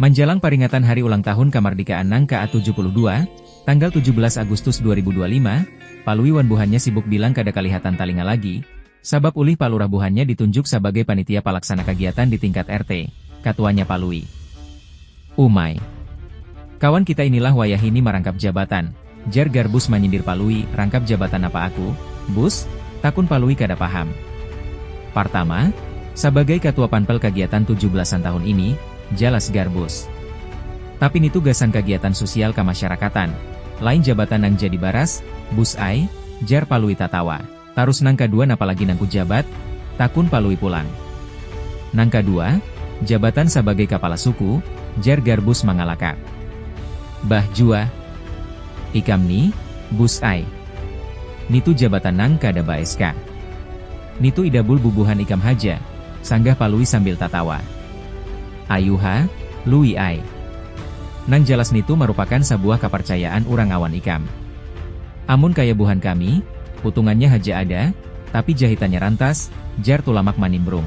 Manjalang paringatan Hari Ulang Tahun Kamardikaan nang ka tujuh puluh dua, tanggal tujuh belas Agustus dua ribu dua lima, Palui wan buhannya sibuk bilang kada kalihatan talinga lagi, sabab ulih Palurah buhannya ditunjuk sabagai panitia palaksana kagiatan di tingkat RT, katuanya Palui. Umai. Kawan kita inilah wayahini marangkap jabatan. Jar Garbus manyindir Palui, rangkap jabatan apa aku, Bus? takun Palui kada paham. Partama, sabagai katua panpel kagiatan tujuh belasan tahun ini, jalas Garbus. Tapi nitu gasan kagiatan susial kamasyarakatan, lain jabatan nang jadi baras, Bus ai, jar Palui tatawa. Tarus nang kadua napa lagi nang kujabat? takun Palui pulang. Nang kadua, jabatan sabagai kapala suku, jar Garbus mangalakak. Bah jua ikam ni, Bus ai. Nitu jabatan nang kada ba-SK. Nitu idabul bubuhan ikam haja, sanggah Palui sambil tatawa. Ayuha, Lui ai. Nang jalas nitu marupakan sabuah kaparcayaan urang awan ikam. Amun kaya buhan kami, utungannya haja ada, tapi jahitannya rantas, jar Tulamak manimbrung.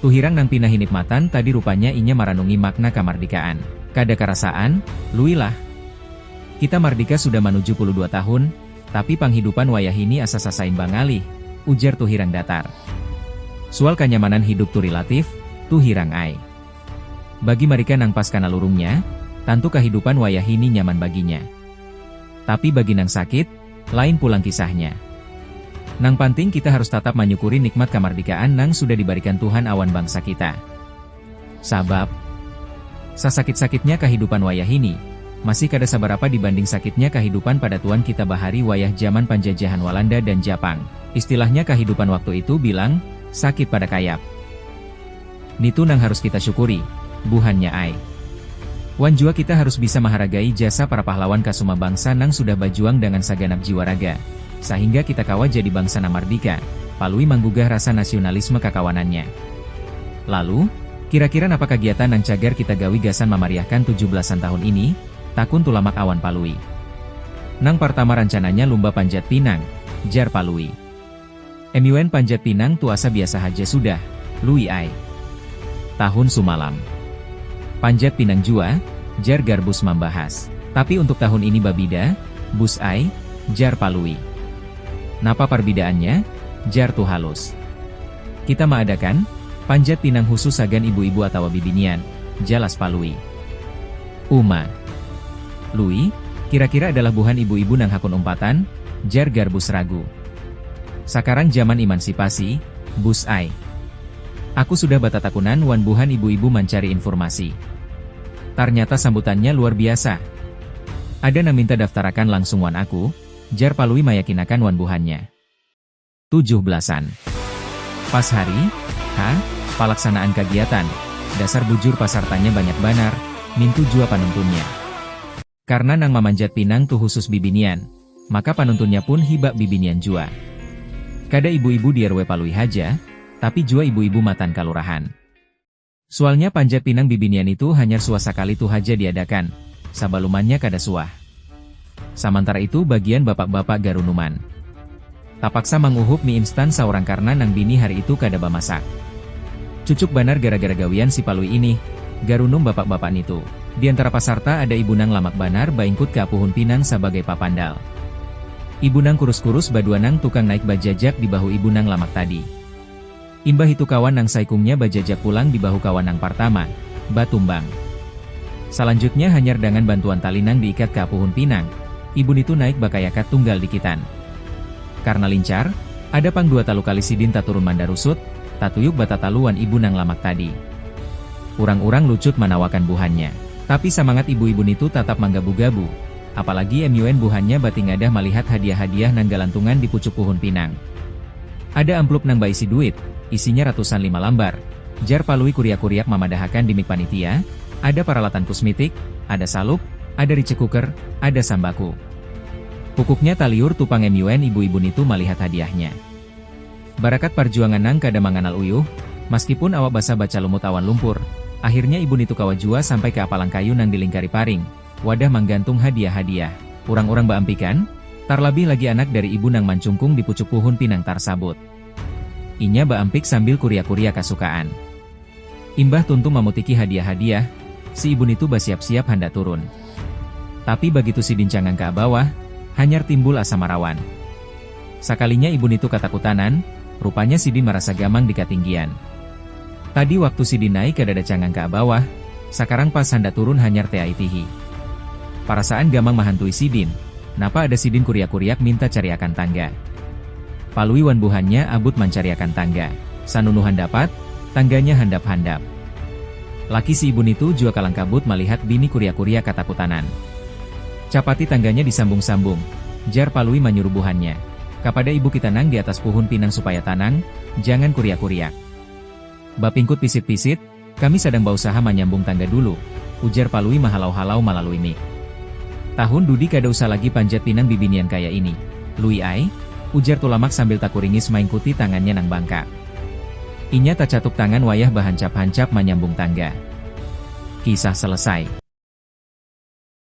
Tuhirang nang pina hinip matan tadi rupanya inya maranungi makna kamardikaan. Kada karasaan, Lui lah. Kita mardika sudah manuju puluh dua tahun, tapi panghidupan wayahini asa sasaimba ngalih, ujar Tuhirang datar. Sual kanyamanan hidup tu rilatif, Tuhirang ai. Bagi marika nang pas kana lurungnya, tantu kahidupan wayahini nyaman baginya. Tapi bagi nang sakit, lain pulang kisahnya. Nang panting kita harus tatap manyukuri nikmat kamardikaan nang sudah dibarikan Tuhan awan bangsa kita. Sabab, sasakit-sakitnya kahidupan wayahini, masih kada sabarapa dibanding sakitnya kahidupan padatuan kita bahari wayah jaman panjajahan Walanda dan Japang. Istilahnya kahidupan waktu itu bilang, sakit pada kayap. Nitu nang harus kita syukuri, buhannya ai. Wan jua kita harus bisa maharagai jasa para pahlawan ka suma bangsa nang sudah bajuang dangan saganap jiwa raga, sahingga kita kawa jadi bangsa nang mardika, palui manggugah rasa nasiunalisme kakawanannya. Lalu, kira-kira napa kagiatan nang cagar kita gawi gasan mamariahkan tujuh belasan tahun ini? takun Tulamak awan Palui. Nang partama rancananya lumba panjat pinang, jar Palui. MUN Panjat Pinang tuasa biasa haja sudah, Lui ai. Tahun sumalam. Panjat Pinang jua, jar Garbus mambahas. Tapi untuk tahun ini babida, Bus ai, jar Palui. Napa parbidaannya? jar Tuhalus. Kita maadakan, Panjat Pinang husus sagan ibu-ibu atawa bibinian, jalas Palui. Uma. Lui, kira-kira adalah buhan ibu-ibu nang hakun umpatan? jar Garbus ragu. Sakarang jaman imansipasi, Bus ai. Aku sudah batatakunan wan buhan ibu-ibu mancari infurmasi. Tarnyata sambutannya luar biasa. Ada nang minta daftarakan langsung wan aku, jar Palui mayakinakan wan buhannya. tujuh belasan. Pas hari, H, palaksanaan kagiatan, dasar bujur pasartanya banyak banar, nintu jua panuntunnya. Karna nang mamanjat pinang tu husus bibinian, maka panuntunnya pun hibak bibinian jua. Kada ibu-ibu di rw Palui haja, tapi jua ibu-ibu matan kalurahan. Sualnya panjat pinang bibinian itu hanyar suah sakali tu haja diadakan, sabalumannya kada suah. Samantara itu bagian bapak-bapak garunuman. Tapaksa manguhup mi instan saurang karna nang bini hari itu kada bamasak. Cucuk banar gara-gara gawian si Palui inih, garunum bapak-bapak nitu. Diantara pasarta ada ibu nang lamak banar baingkut ka puhun pinang sabagai papandal. Ibu nang kurus-kurus badua nang tukang naik bajajak di bahu ibu nang lamak tadi. Imbah itu kawan nang saikungnya bajajak pulang di bahu kawan nang partama, batumbang. Salanjutnya hanyar dangan bantuan tali nang diikat ka puhun pinang, ibu nitu naik bakayakat tunggal dikitan. Karna lincar, ada pang dua talu kali sidin taturun mandarusut, tatuyuk batatalu wan ibu nang lamak tadi. Urang-urang lucut manawakan buhannya. Tapi samangat ibu-ibu nitu tatap manggabu-gabu. Apalagi MUN buhannya batingadah malihat hadiah-hadiah nang galantungan di pucuk puhun pinang. Ada amplup nang baisi duit, isinya ratusan lima lambar, jar Palui kuriak-kuriak mamadahakan di mik panitia, ada paralatan kusmitik, ada salup, ada rice cooker, ada sambaku. Pukuknya taliur tu pang MUN ibu-ibu nitu malihat hadiahnya. Barakat parjuangan nang kada manganal uyuh, maskipun awak basah bacalumut awan lumpur, akhirnya ibu nitu kawa jua sampai ka apalang kayu nang dilingkari paring, Wadah manggantung hadiah-hadiah. Urang-urang baampikan, tarlabih lagi anak dari ibu nang mancungkung di pucuk puhun pinang tarsabut. Inya baampik sambil kuria-kuria kasukaan. Imbah tuntung mamutiki hadiah-hadiah, si ibu nitu basiap-siap handak turun. Tapi bagitu sidin cangang ka abawah, hanyar timbul asa marawan. Sakalinya ibu nitu katakutanan, rupanya sidin marasa gamang di katinggian. Tadi waktu sidin naik kadada cangang ka abawah, sakarang pas handak turun hanyar teaitihi. Parasaan gamang mahantui sidin, napa ada sidin kuriak-kuriak minta cariakan tangga. Palui wan buhannya abut mancariakan tangga. Sanunu handapat, tangganya handap-handap. Laki si ibu nitu jua kalang kabut malihat bini kuriak-kuriak katakutanan. Capati tangganya disambung-sambung, jar Palui manyuruh buhannya. Kapada ibu kita nang di atas puhun pinang supaya tanang, jangan kuriak-kuriak. Bapingkut pisit-pisit, kami sadang bausaha manyambung tangga dulu, ujar Palui mahalau-halau malalui mik. Tahun dudi kada usah lagi panjat pinang bibinian kaya ini, Lui ai, ujar Tulamak sambil takuringis maingkuti tangannya nang bangkak. Inya tacatup tangan wayah bahancap-hancap manyambung tangga. Kisah selesai.